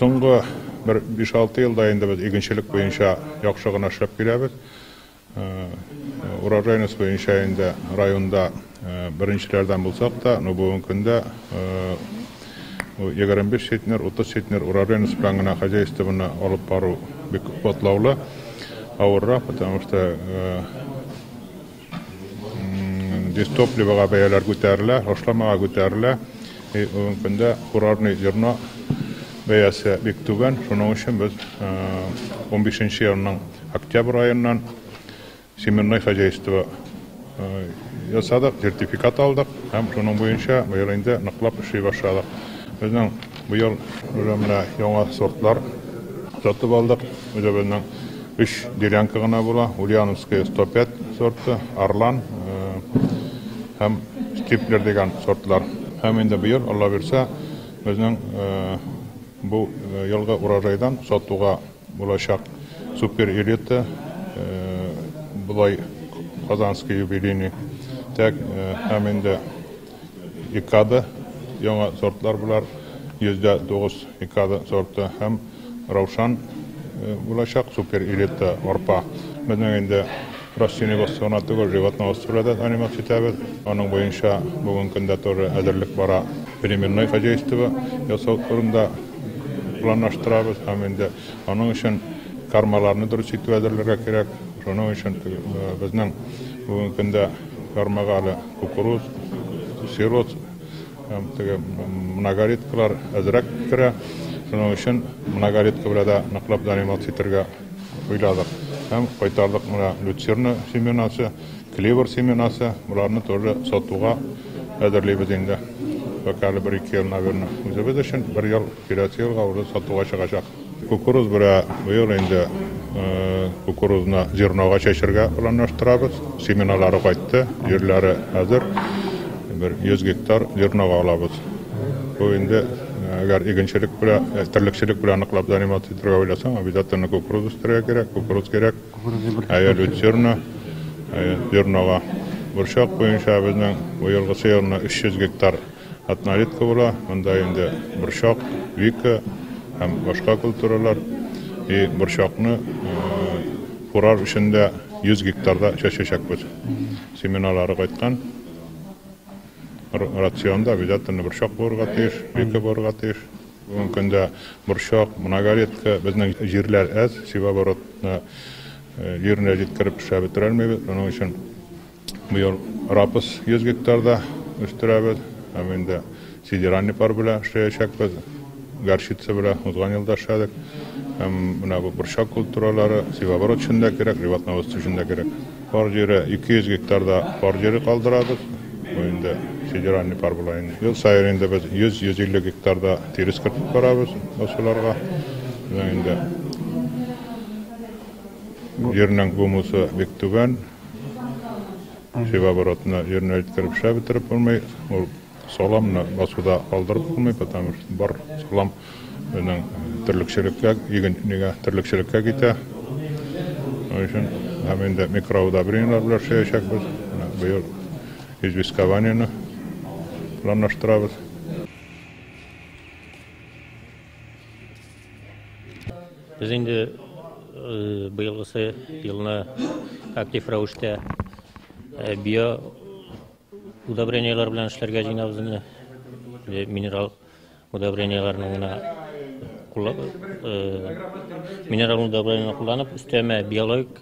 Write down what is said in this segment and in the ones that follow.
Соңгы бер 5-6 елда инде без игенчелек буенча яхшы гына эшләп киләбез. Урожайность буенча инде районда беренчеләрдән булсак та, ну бүгенге көндә 25 центнер, 30 центнер урожайность белән генә хозяйствоны алып бару бик катлаулы, авыррак, потому что дистопливога бәяләр күтәрелә, ашламага күтәрелә. Бүген көндә курорный зерно бәясе бик түбән, шуның өчен без унбишенче елның октябрь аеннан семенной хозяйство ясадык, сертификат алдык һәм шуның буенча быел инде ныклап эшли башладык. Безнең быел уже менә яңа сортлар сатып алдык, үзебезнең. Өч делянка гына була, Ульяновская 105 сорты, Орлан һәм Стиплер дигән сортлар. Һәм инде быел, Алла бирсә, безнең бу елгы урожайдан сатуга булачак Супер Элита, болай Казанский юбилейный, тәк һәм инде Икада, яңа сортлар болар, 109 Икада сорты һәм Раушан булачак, супер элита арпа. Безнең инде растение костюмы гына түгел, животноводство да заниматься итәбез. Аның буенча бүген көндә тоже әзерлек бара. Переменной хозяйство ясау турында планлаштырабыз һәм инде аның өчен кармаларны дөрес итеп әзерләргә кирәк. Шуның өчен безнең бүген көндә кармага әле Кукуруз, сирот һәм теге многолеткалар әзрәк керә. Шуның өчен многолетка белән дә ныклап заниматься итәргә уйладык. Һәм кайтардык менә люцерна семенасы, клевер семенасы, боларны тоже сатуга әзерлибез инде. Пока әле бер-ике ел, наверное, үзебез өчен, бер ел Киләсе елга уже сатуга чыгачак. Кукуруз бирә. Быел инде кукурузны зернога чәчергә планлаштырабыз. Семеналары кайтты, җирләре хәзер. Бер 100 гектар зернога алабыз. Бу инде әгәр игенчелек белән, терлекчелек белән ныклап заниматься итәргә уйласаң, обязательно кукуруз үстерергә кирәк, кукуруз кирәк. Әйе, люцерна, әйе, зернога. Борчак буенча безнең быелгысы елны 300 гектар. Однолетка була, монда инде борчак, вика һәм башка культуралар. И борчакны курар өчен дә 100 гектарда чәчәчәкбез. Семеналары кайткан. Рационда обязательно борчак булырга тиеш, вика булырга тиеш. Бүгенге көндә борчак, многолетка, безнең җирләр әз, севооборотны җиренә җиткереп эшләп бетерә алмыйбыз. Шуның өчен Быел рапс 100 гектарда үстерәбез, һәм инде сидеральный пар белән эшләячәкбез. Горчица белән узган ел да эшләдек. Һәм менә бу борчак культуралары севооборот өчен дә кирәк, животноводство өчен дә кирәк. Пар җире 200 гектарда пар җире калдырабыз. Бу инде сидеральный пар була инде. Ел саен инде без 100-150 гектарда тирес кертеп барабыз басуларга. Менә инде җирнең гумусы бик түбән. Фивоборотны йөрнәлттереп шә бетереп булмый, ул саламны басуда калдырып булмый, потому что бар салам безнең терлекчелеккә, иген нигә терлекчелеккә китә. Шуның өчен һәм инде микроудобрениеләр белән шәячәкбез. Быел известкование-ны планлаштырабыз. Без инде э, быелгысы елны актив рәвештә э, био удобренияләр белән эшләргә җыенабыз инде. Э, минерал удобренияләрне генә минерал удобрениене кулланып, өстәмә биологик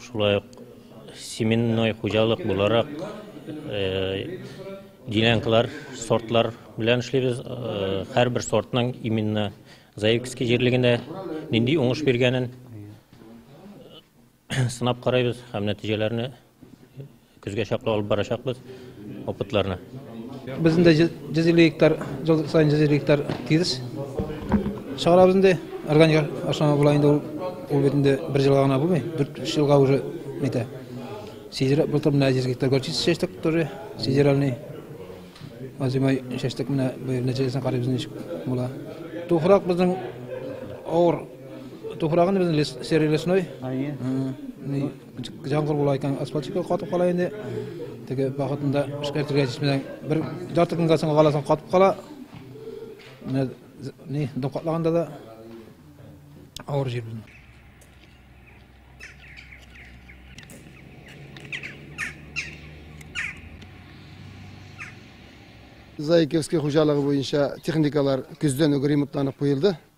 Шулай ук семенной хуҗалык буларак делянкалар, сортлар белән эшлибез. Һәрбер сортның именно Заевский җирлегендә нинди уңыш биргәнен сынап карайбыз һәм нәтиҗәләрне Көзгә чаклы алып барачакбыз опытларны. Без инде 150 гектар, ел саен 150 гектар тирес чыгарабыз инде. Органик ашламы була инде ул. Ул бит инде бер елга гына булмый, 4-3 елга уже әйтә. Сидер былтыр менә 100 гектар горчица чәчтек тоже, сидеральный. Азимай чәчтек менә быел нәтиҗәсен карыйбыз ничек була. Туфрак безнең авыр. Туфрагын безнең серый лесной. Әйе. Җаңгыр була икән, асфальтчикка катып кала инде. Теге вакытында эшкәртергә җитмәгән бер ярты көнгә соң галасын катып кала. Менә ни докладлаганда да авыр җир булды. Заикевский хуҗалыгы буенча техникалар көздән үк ремонтланып куелды.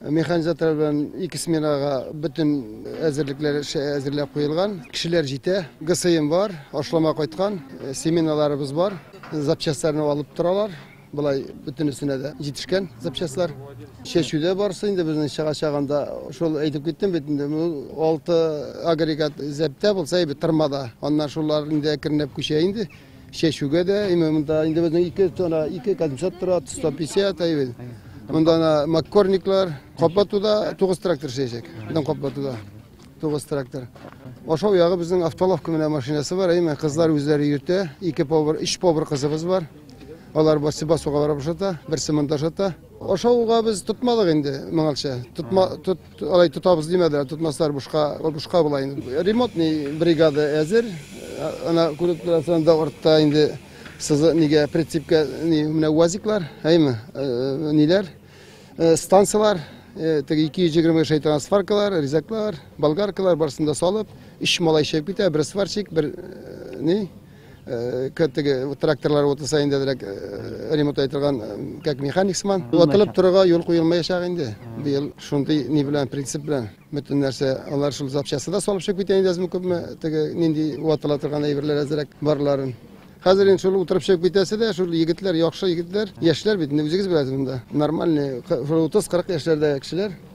Механизаторлар белән ике сменага бөтен әзерлекләр әзерләп куелган. Кешеләр җитә. ГСМ бар, ашлама кайткан, э, семеналарыбыз бар. Запчастларны алып торалар. Былай бөтенесенә дә җитешкән запчастлар. Чәчүдә барсы инде безнең чыга чагында шул әйтеп киттем бит инде алты агрегат зәптә булса әйбәт тырмада. Аннан шулар инде әкренләп күчә инде. Чәчүгә дә, именно монда инде безнең ике тона, ике кадимшат тора, 150 әйбен. Монда ана маккорниклар, каплатуда 9 трактор чәчәк. Монда каплатуда 9 трактор. Ашау ягы безнең автолавка менә машинасы бар, әйме кызлар үзләре йөртә. Ике повар, өч повар кызыбыз бар. Алар басы басуга барып шата, берсе монда шата. Ашауга без тотмадык инде моңалча. Тотма, тот Алай тотабыз димәделәр, тотмаслар бушка, ул бушка була инде. Ремонтный бригада әзер. Ана күреп торасыз, анда артта инде сызы нигә прицепка ни менә УАЗиклар, әйме, э, ниләр, э, станцияләр, э, теге 220 шайтан сваркалар, резаклар, болгаркалар барсын да салып, өч малай чыгып китә, бер сварщик, бер ни, Кәттеге тракторлар вот сайында дирәк ремонт айтырган как механик сыман. Ватылып торырга юл куелмаячак инде. Быел шундый ни белән принцип белән бөтен нәрсә алар шул запчасты да салып чыгып китә инде әзме күпме теге нинди ватыла торган әйберләр әзрәк барларын. Хәзер инде шул утырып чыгып китәсе дә шул егетләр, яхшы егетләр, яшьләр бит инде үзегез беләсез монда. Нормальный 30-40 яшьләрдә кешеләр.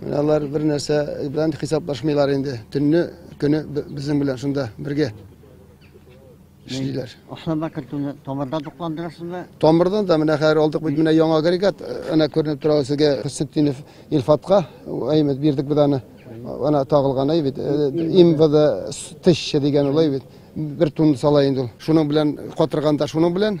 Менә алар бер нәрсә белән хисаплашмыйлар инде. Төнне көне безнең белән шунда бергә эшлиләр. Ашарда кертүне тамырдан тукландырасызмы? Тамырдан да менә хәзер алдык бит менә яңа агрегат, әнә күренеп тора сезгә Хисетдинов Илфатка, әймәт бирдек без аны. Ана тагылган әй бит, имбада тыща дигән улай бит. Бер тун сала инде ул. Шуның белән катырганда шуның белән,